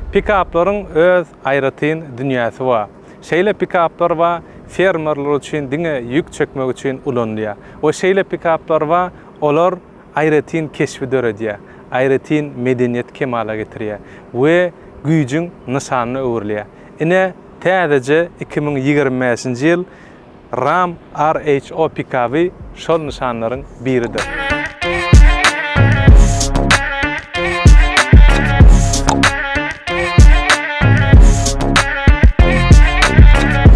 Pikaplaryň öz aýratyn dünýäsi bar. Şeýle pikaplar bar, fermerler üçin diňe ýük çekmek üçin ulanylýar we şeýle pikaplar bar, olar aýratyn keşbi döredýär, aýratyn medeniýeti kemala getirýär we güýjüň nyşanyna öwrülýär. Ine, täzeje iki müň ýigrimi bäşinji ýyl Ram RHO pikaby şol nyşanlaryň biridir.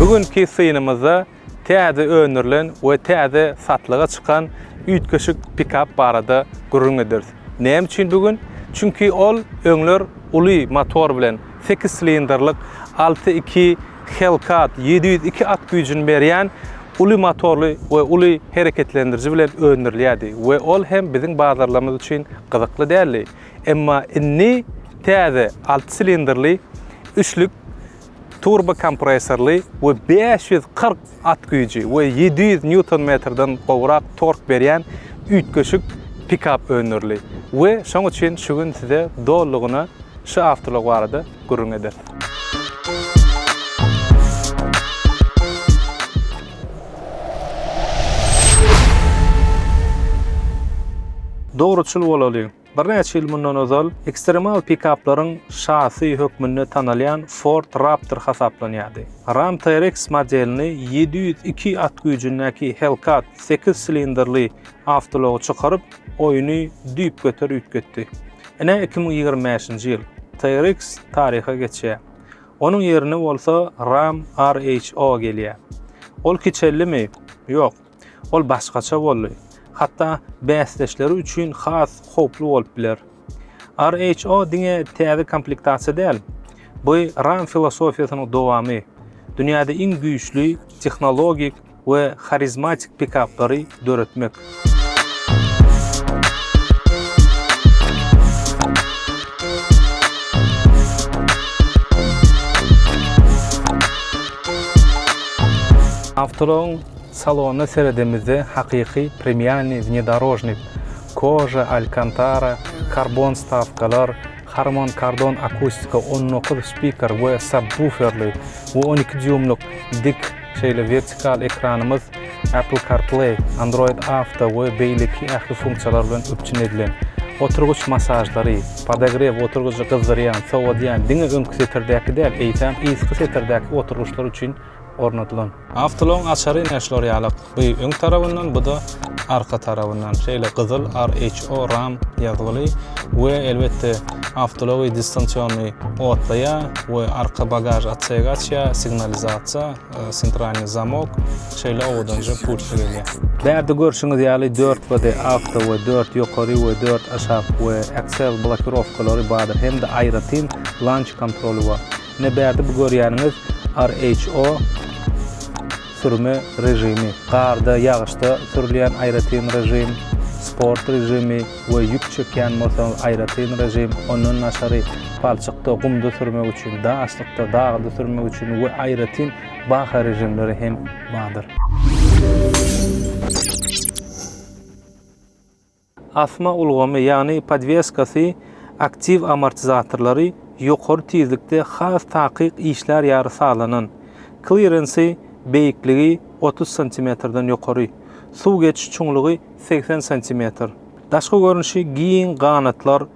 Bu günki synymyzda täze öndürilen we täze satlyga çykan üýtgeşik pikap barada gürrüň ederis. Näme üçin bu gün? Çünki ol öňler uly motor bilen, sekiz silindrlik alty iki Hellcat ýedi ýüz iki at güýjüni berýän uly motorly we uly hereketlendiriji bilen öndürilýärdi we ol hem biziň bazarlarymyz üçin gyzykly däldi. Emma indi täze alty silindrli üçlük turbokompressorly we bäş ýüz kyrk at güýji we ýedi ýüz nýuton-metrden gowrak tork berýän üýtgeşik pikap öndürildi we şoň üçin şu gün size dolulygyna şu awtoulag barada gürrüň ederis. Dogruçyl bolalyň! Birnäçe ýyl mundan ozal ekstremal pikaplaryň şasy hökmünde tanalýan Ford Raptor hasaplanýardy. Ram TRX modelini ýedi ýüz iki at güýjündäki Hellcat sekiz silindrli awtoulagy çykaryp, oýny düýpgöter üýtgetdi. Ine, iki müň ýigrimi bäşinji ýyl TRX taryha geçýär. Onuň ýerine bolsa Ram RHO gelýär. Ol kiçeldimi? Ýok. Ol başgaça boldy, hatda bäsdeşleri üçin has howply bolup biler. RHO diňe täze komplektasiýa däl, bu RAM filosofiýasynyň dowamy, dünýäde iň güýçli tehnologik we harizmatik pikaplary döretmek. Awtoulagyň Salona seredemizde hakyky premialnyý wnedorožnik, Koža, Alkantara, karbon wstawkalar, Harman Kardon akustika on dokuz spiker we sabwuferli we on iki dýuýmlyk dik şeýle wertikal ekranymyz Apple CarPlay, Android Auto we beýleki ähli funksiýalar bilen üpjün edilen. Oturgyç masažlary, podogrew oturgyjy gyzdyrýan, sowadýan diňe öňki setirdäki däl, eýsem yzky setirdäki oturgyçlar üçin ornadylan. Awtoulagyň açary ine şular ýalak, bu öň tarabyndan, bu-da arka tarabyndan şeýle gyzyl RHO ram ýazgyly we elbetde awtoulagy distansionnyý otlaýar we arka bagaž otsegi açýar, signalizasiýa, sentralnyý zamok, şeýle owadanja pultly gelýär. Bärde görşüňiz ýaly dört body awto we dört ýokary we dört aşak we Accel blokirowkalary bardyr hem-de aýratyn launch kontroly bar. Ine bärde bu görýäniňiz RHO sürme režimi. Garda, ýagyşda sürülýän aýratyn režim, sport režimi we ýük çekýän bolsaňyz aýratyn režim, ondan daşary palçykda, gumda sürmek üçin, daşlykda, dagda sürmek üçin we aýratyn baha režimleri hem bardyr. Asma ulgamy, ýagny podweskasy, aktiw amortizatorlary ýokary tizlikde has takyk işlär ýaly sazlanan. Klirensi, beýikligi, otuz santimetrden ýokary. Suw geçiş çuňlugy, segsen santimetr. Daşky görnüşi giň ganatlar,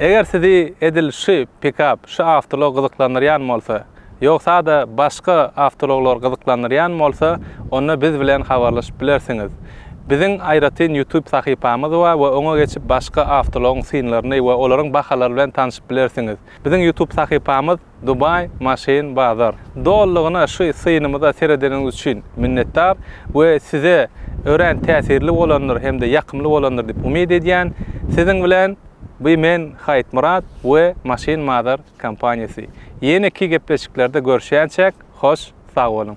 Eger sizi edil şu pikap şu awtoulag gyzyklandyrýan bolsa, ýogsa-da başga awtoulaglar gyzyklandyrýan bolsa, onda biz bilen habarlaşyp bilersiňiz. Biziň aýratyn YouTube sahypamyz bar we oňa geçip başga awtoulagyň synlaryny we olaryň bahalary bilen tanşyp bilersiňiz. Biziň YouTube sahypamyz Dubai Machine Bazar. Dolulygyna şu synymyza seredeniňiz üçin minnetdar we size örän täsirli bolandyr hem-de ýakymly bolandyr diýip umyt edýän. Siziň bilen by men Haýytmyrat we Machine Mother kompaniýasy. Ýeneki gepleşiklerde görüşýänçäk hoş sag boluň.